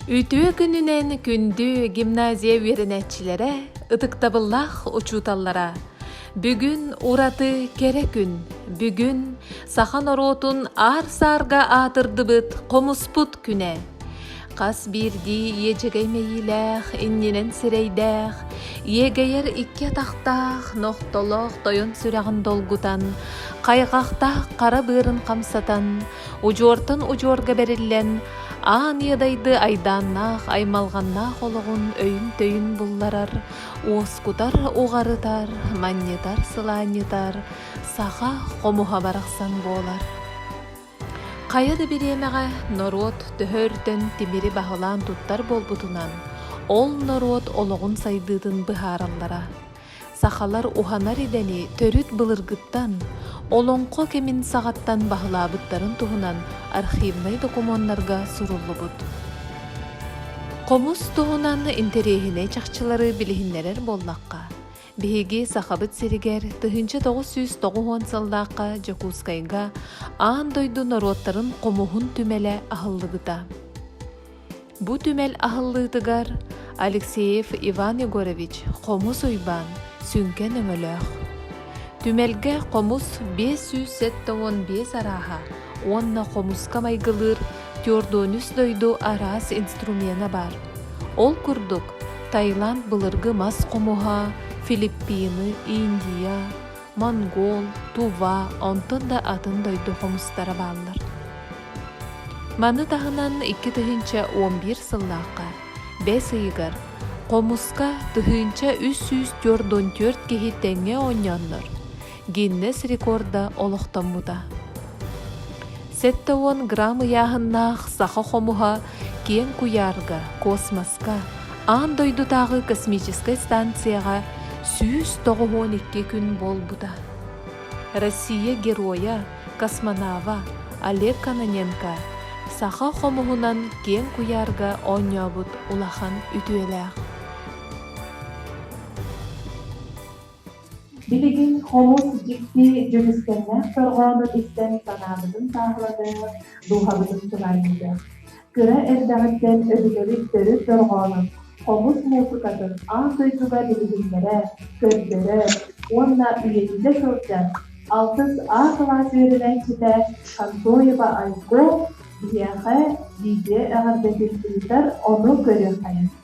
Үтүө күнүнэн күндү гимназия үөрэнээччилэрэ, ытыктабыллаах учууталлара! Бүгүн ураты кэрэ күн. Бүгүн саха норуотун аар-саарга аатырдыбыт хомуспут күнэ. Хас биирдии иэдьэгэй мэйиилээх, иннинэн сирэйдээх, иэгэйэр икки атахтаах, нохтолоох тойон сүрэҕин долгутан, хайҕахтаах хара быарын хамсатан, удьуортан удьуорга бэриллэн, аан иэдайды айдааннаах, аймалҕаннаах олоҕун өйүн-төйүн булларар, уоскутар, уҕарытар, манньытар, сылаанньытар саха хомуһа барахсан буолар. Хайа да бириэмэҕэ норуот төһө өртөн тимири баһылаан туттар буолбутунан, ол норуот олоҕун сайдыытын быһаараллара. Сахалар уһанар идэни төрүт былыргыттан, олоҥхо кэмин саҕаттан баһылаабыттарын туһунан архивнай докумуоннарга суруллубут. Хомус туһунан интэриэһинэй чахчылары билиһиннэрэр буоллахха, Биһиги Сахабыт сиригэр тыһыынча тоҕус сүүс тоҕус уон сыллаахха Дьокуускайга аан дойду норуоттарын хомуһун түмэлэ аһыллыбыта. Бу түмэл аһыллыытыгар Алексеев Иван Егорович Хомус Уйбаан сүҥкэн өҥөлөөх. Түмэлгэ хомус биэс сүүс сэттэ уон биэс арааһа уонна хомуска майгылыыр Түөрдуонүс дойду араас инструмена баар. Ол курдук, Таиланд былыргы мас хомуһа, Филиппины, Индия, монгол, тува, онтон да атын дойду хомустара бааллар. Маны таһынан 2011 сыллаахха бэс ыйыгар хомуска тыһыынча үс сүүс төрт он төрт киһи тэҥҥэ оонньооннор, Гиннес рекорда олохтоммута. Сэттэ уон грамм ыйааһыннаах саха хомуһа киэҥ куйаарга, космоска, аан дойдутааҕы космическай станцияҕа сүүс тоҕуһуон икки күн буолбута. Россия Геройа, космонава Олег Кононенко саха хомуһунан киэҥ куйаарга оонньообут улахан үтүөлээх. Билигин олус дьикти дьүкүскэннээх дорҕоону истэн санаабытын сааһылатыһы дууһабытын сылайыыта, кыра эрдэҕиттэн өбүгэбит төрүт дорҕоонун, хомус муусукатын аан дойдуга билиһиннэрэ, көрдөрө уонна үйэтитэ сылдьан алтыс А кылаас үөрэнээччитэ Контоева Айго биһиэхэ видео эҕэрдэтин ыытар, ону көрүөххэ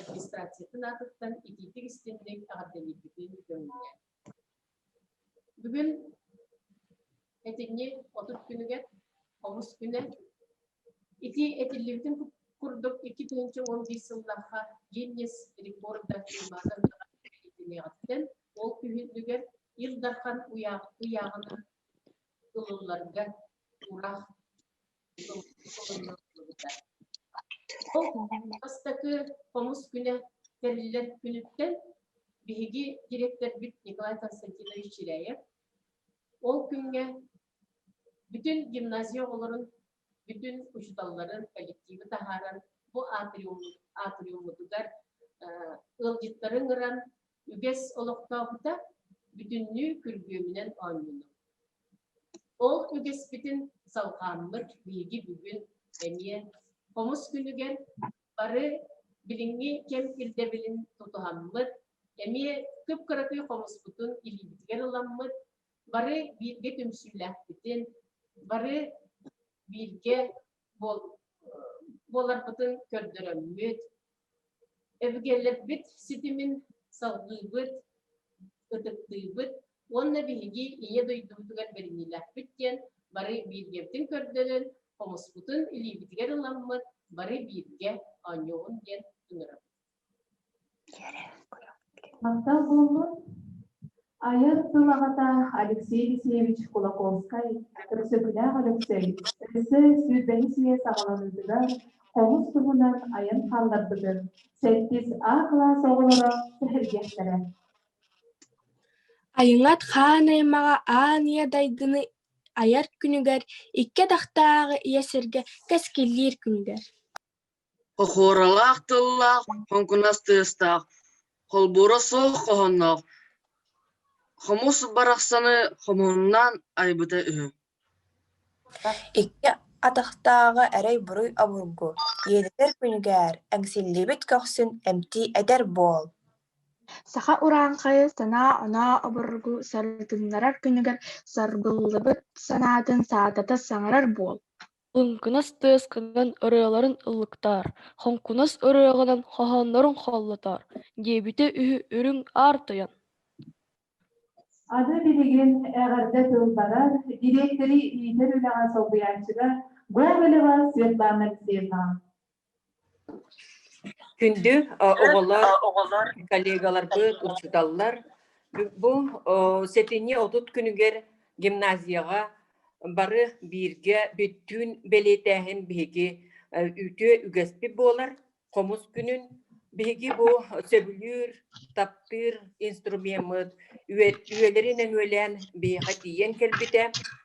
администрациятын аатыттан итиитик истиэхник эҕэрдэлиирбитин көҥүллээн. Бүгүн этиҥҥи отут күнүгэр хомус күнэ. Ити этиллибитин курдук икки тыһыынча уон биир сыллаахха Гиннес рекорда тыылаата итилиэҕиттэн ол күһүнүгэр Ил Дархан ыйааҕынан ылылларга тураах Бастакы хомус күнэ тэриллэр күнүттэн биһиги дириэктэрбит Николай Константинович Чиряев ол күҥҥэ бүтүн гимназия оҕолорун, бүтүн учууталларын коллективы таһааран бу атриуммутугар ыалдьыттары ыҥыран Үгэс олохтоохута бүтүннүү күргүөмүнэн оонньуур. Ол үгэспитин салҕааммыт биһиги бүгүн эмиэ хомус күнүгэр бары билиҥҥи кэм ирдэбилин тутуһаммыт, эмиэ кып-кыракый хомуспутун илиибитигэр ыламмыт, бары бииргэ түмсүүлээхпитин, бары бииргэ буоларбытын көрдөрөммүт, эбигээлэрбит ситимин салгыыбыт, ытыктыыбыт уонна биһиги ийэ дойдубутугар бэриниилээхпит диэн бары бииргэбитин көрдөрөн, хомуспутун илиибитигэр ыламмыт бары бииргэ оонньуоҕун диэн ыҥырабыт. Мантан курдук айар тыл аҕата Алексей Алексеевич Кулаковскай Өксөкүлээх Өлөксөй өссө сүүрбэһис үйэ саҕаланыытыгар хомус туһунан айан хаалларбытын сэттис А кылаас оҕолоро сэһэргэхтэрэ Айыҥат хаан аймаҕа аан ийэ дайгыны айар күнүгэр икки атахтааҕы ийэ сиргэ кэскиллиир күндэр Хохуоралаах тыллаах, хоҥкунас тыастаах, холбуура суох хоһоонноох, хомус барахсаны хомуһуннаан айбыта үһү Икки атахтааҕы эрэй-буруй обургу, ийэлэтэр күнүгэр эҥсиллибит көхсүн эмтии этэр буол Саха урааҥхайы санаа-оноо обургу сарытыннарар күнүгэр саргыллыбыт санаатын саатата саҥарар буол Лыҥкынас тыасканан ырыаларын ыллыктаар, хоҥкунас ырыаҕынан хоһооннорун холлотоор, диэбитэ үһү үрүҥ аар тойон. Аны билигин эҕэрдэ тыл барар, дириэктэри иитэр үлэҕэ солбуйааччыга Гоголева Светлана Алексеевнаҕа. Күндү оҕолор, коллегаларбыт, учууталлар, бу сэтинньи отут күнүгэр гимназияҕа бары бииргэ бүттүүн бэлиэтээһин биһиги үтүө үгэспит буолар. Хомус күнүн биһиги бу сөбүлүүр, таптыыр инструмеммыт үйэлэри нөҥүөлээн биһиэхэ тиийэн кэлбитэ.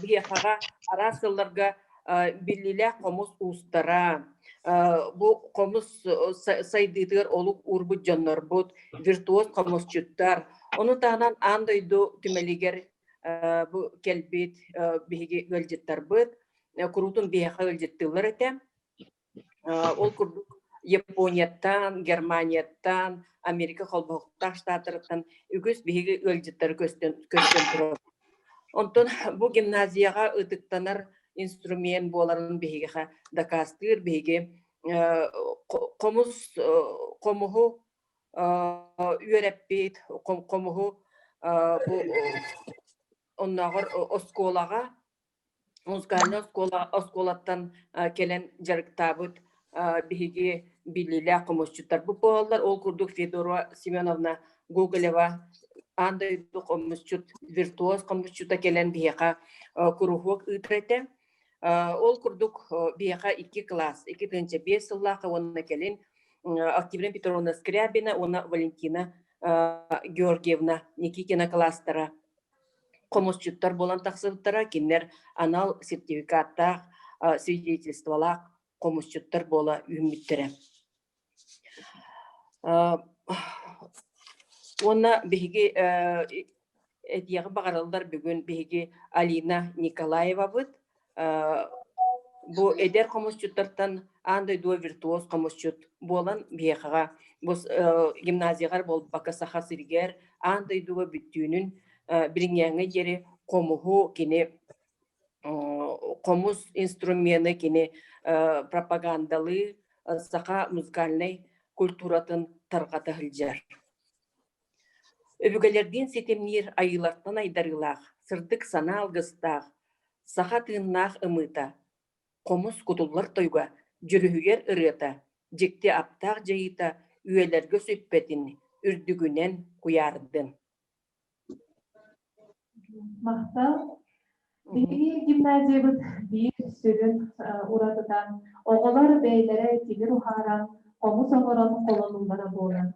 Биһиэхэҕэ араас сылларга биллиилээх хомус уустара, бу хомус сайдыытыгар олук уурбут дьоннорбут, виртуоз хомусчуттар, ону таһынан аан дойду түмэлигэр бу кэлбит биһиги ыалдьыттарбыт куруутун биһиэхэ ыалдьыттыыллар этэ. Ол курдук Японияттан, Германияттан, Америка холбоһуктаах штаттарыттан үгүс биһиги ыалдьыттары көрсөн турабыт. Онтон бу гимназияҕа ытыктанар инструмент буоларын биһигиэхэ дакаастыыр биһиги хомус хомуһу үөрэппит хомуһу оннооҕор оскуолаҕа музыкальнай оскуола оскуолаттан кэлэн дьарыктаабыт биһиги биллиилээх хомусчуттарбыт буолаллар ол курдук Федора Семеновна Гоголева аан дойду хомусчут виртуоз хомусчута кэлэн биһиэхэ куруһуок ыытар этэ ол курдук биһиэхэ икки кылаас икки тыһыынча биэс сыллаах уонна кэлин активина петровна скрябина уонна валентина георгиевна никитина кылаастара хомусчуттар буолан тахсыбыттара, кинилэр анал сертификаттаах, свидетельстволаах хомусчуттар буола үүммүттэрэ. Уонна биһиги этиэҕи баҕараллар бүгүн биһиги Алина Николаевабыт, бу эдэр хомусчуттартан аан дойду виртуоз хомусчут буолан биэхаҕа бу гимназияҕар буолбакка саха сиригэр аан дойдуга бүттүүнүн билиҥҥээҥҥэ диэри хомуһу кини хомус инструмены кини пропагандалыы саха музыкальнай культуратын тарҕата сылдьар Өбүгэлэрдиин ситимниир айыылартан айдарыылаах, сырдык санаа алгыстаах, саха тыыннаах ымыыта, хомус кутуллар тойуга, дьүрүһүйэр ырыата, дьикти аптаах дьайыыта үйэлэргэ сүппэтин, үрдүгүнэн куйаардын! Махтал. Биһиги гимназиябыт биир сүрүн уратытан оҕолор бэйэлэрэ тимир уһааран, хомус оҥорон холонуулара буолар.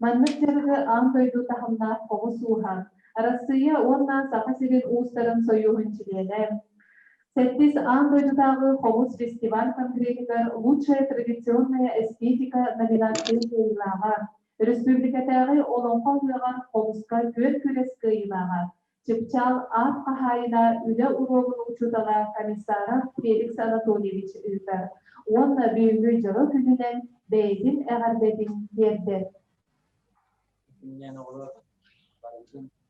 Маннык дьарыгы аан дойду таһымнаах хомус ууһа, Арассыыйа уонна Саха сирин уустарын сойууһун чилиэнэ, сэттис аан дойдутааҕы хомус фестиваль конгреһыгар Лучшая традиционная эстетика номинацияны кыайыылааҕа Өрөспүүбүлүкэтээҕи Олоҥхо ыһыаҕар хомуска күөн-күрэс кыайыылааҕа, чыпчаал аат хаһаайына, үлэ уруогун учуутала, комиссара Феликс Анатольевич ыытар уонна бүгүҥҥү дьоро күнүнэн бэйэтин эҕэрдэтин тиэрдэр.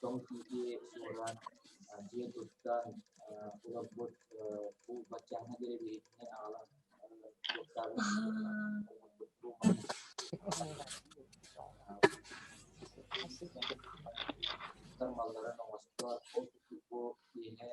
тоҥ тиити уолаан дьиэ тустан олорбут куул баччааҥҥа диэри биһиттини аҕалан туттар малларын оҥостор ол курдук бу киэһэ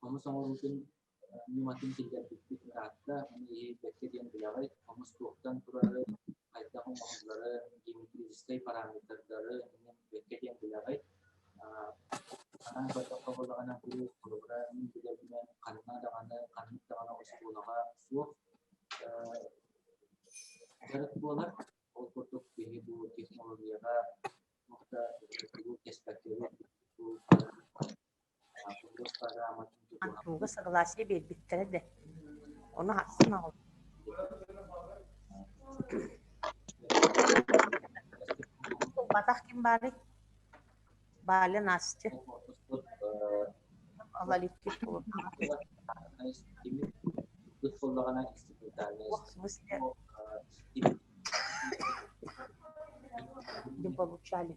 Хомус оҥоруутун ньыматын киллэрбиппит Таатта, аны иһийбэккэ диэн билэҕий, хомус туохтан турары, хайдах оҥоһуллары, геометрическай параметрдары иҥэрбэккэ диэн билэҕий. Анаан көрдөххө буоллаҕына, бу холобура мин билэбинэн ханна даҕаны, ханнык даҕаны оскуолаҕа суох дьарык буолар. Ол курдук киһи бу технологияҕа тугу кэспэккэ бу Антоҥҥа согласие биэрбиттэрэ да, ону ахсын ылбатах ким баарый? Баля, Настя, ол иликки Ох, в смысле? Не получали.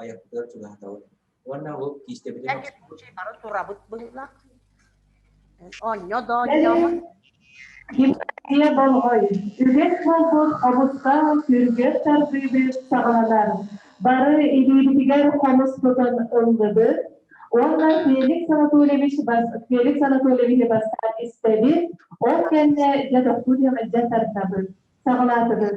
айарбытыгар чугаһатабыт. Уонна ол киистэбитин бары турабыт быһылах. Онньо да онньо. Киһэ болғой, үгэс болбос обуттаах сүргэс тардыыбыт саҕаланар. Бары илиибитигэр хомус тутан ыллыбыт. Уонна Феликс Анатольевич Феликс Анатольевиһи бастаан истэбит, ол кэннэ дьэ тохтуу дьэ тардабыт, саҕалаатыбыт.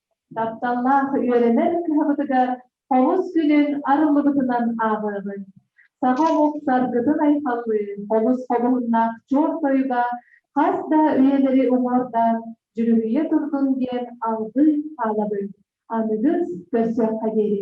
Тапталлаах үөрэнэр кыһабытыгар Олус күнүн арыллыбытынан ааҕыыбын. Саха омук Саргытын айхаллыы олус хобуһуннаах чуор тойуга хас да үйэлэри уҥуордаан дьүрүһүйэ турдун диэн алгыы хаалабын, аныгыс көрсүөххэ диэри.